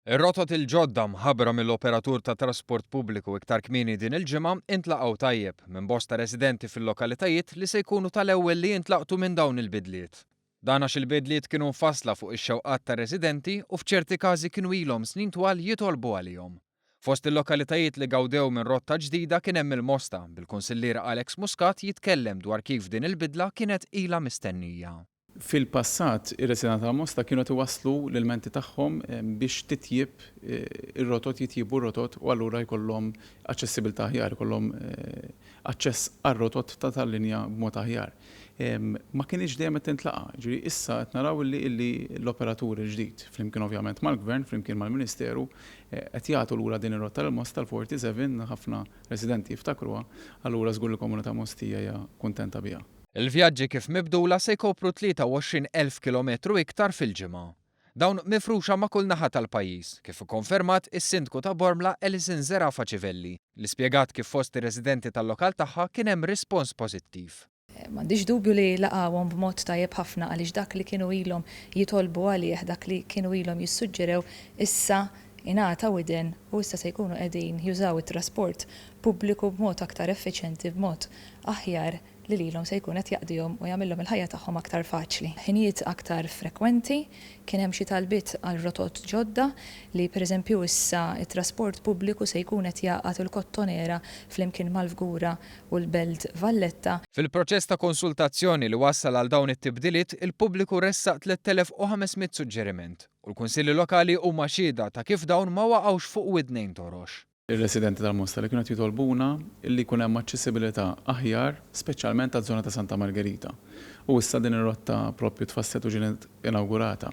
Ir-rotot il-ġodda mħabbra mill-operatur tat-trasport pubbliku iktar kmieni din il-ġimgħa intlaqgħu tajjeb minn bosta residenti fil-lokalitajiet li se jkunu tal-ewwel li jintlaqtu minn dawn il-bidliet. Dan għax il-bidliet kienu mfassla fuq ix-xewqat tar-residenti u f'ċerti każi kienu ilhom snin twal jitolbu għalihom. Fost il-lokalitajiet li gawdew minn rotta ġdida kien hemm il-Mosta, bil-Kunsillier Alex Muscat jitkellem dwar kif din il-bidla kienet ilha mistennija. Fil-passat, ir-residenti tal-Mosta kienu qed iwasslu l-ilmenti tagħhom biex titjieb ir-rotot, jitjiebu r-rotot u allura jkollhom aċċessibilità aħjar, jkollhom aċċess għar-rotot ta' tal-linja b'mod aħjar. Ma kinitx dejjem qed tintlaqa'. Jiġifieri issa qed naraw illi illi l-operatur il-ġdid, flimkien ovvjament mal-Gvern, flimkien mal-Ministeru, qed jagħtu lura din ir-rotta lil Mosta, l-47, ħafna residenti jiftakruha, allura żgur li l-komunità Mostija hija kuntenta biha. Il-vjaġġi kif mibdula se jkopru 23 elf kilometru iktar fil-ġimgħa. Dawn mifruxa ma' kull naħa tal-pajjiż, kif ikkonfermat is-Sindku ta' Bormla Alison Zerafa Civelli, li spjegat kif fost ir-residenti tal-lokal tagħha kien hemm rispons pożittiv. M'għandix dubju li laqgħuhom b'mod tajjeb ħafna għaliex dak li kienu ilhom jitolbu għalih, dak li kienu ilhom jissuġġerew issa ingħata widen u issa se jkunu qegħdin jużaw it-trasport pubbliku b'mod aktar effiċjenti, b'mod aħjar. li lilhom se jkun qed jaqdihom u jagħmilhom il-ħajja tagħhom aktar faċli. Ħinijiet aktar frekwenti, kien hemm xi talbiet għal rotot ġodda li pereżempju issa t-trasport pubbliku se jkun qed jgħaqqad il-Kottonera flimkien mal-Fgura u l-Belt Valletta. Fil-proċess ta' konsultazzjoni li wassal għal dawn it-tibdiliet, il-pubbliku ressaq 3,500 suġġeriment u l-Kunsilli Lokali huma xhieda ta' kif dawn ma waqgħux fuq widnejn torox. ir-residenti tal-Mosta li kienu qed jitolbuna li jkun hemm aċċessibilità aħjar speċjalment għaż-żona ta' Santa Margerita. U issa din ir-rotta proprju tfasslet u ġinet inawgurata.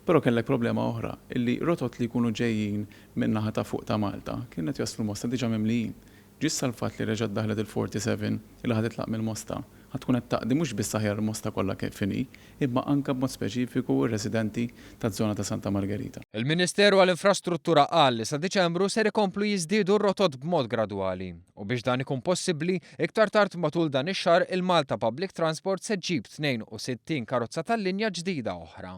Però kellek problema oħra, illi rotot li jkunu ġejjin min-naħa ta' fuq ta' Malta kienu qed jaslu l-Mosta diġà mimlijin. Ġissa l-fatt li reġgħet daħlet il-47 illi ħa titlaq mill-Mosta, ħa tkun qed taqdi mhux biss aħjar il-Mosta kollha kif inhi, imma anke b'mod speċifiku r-residenti taz-zona ta' Santa Margherita. Il-Ministeru għall-Infrastruttura qal li sa Diċembru ser ikomplu jiżdiedu r-rotot b'mod gradwali u biex dan ikun possibbli, iktar tard matul dan ix-xahar il-Malta Public Transport se ġġib 62 karozza tal-linja ġdida oħra.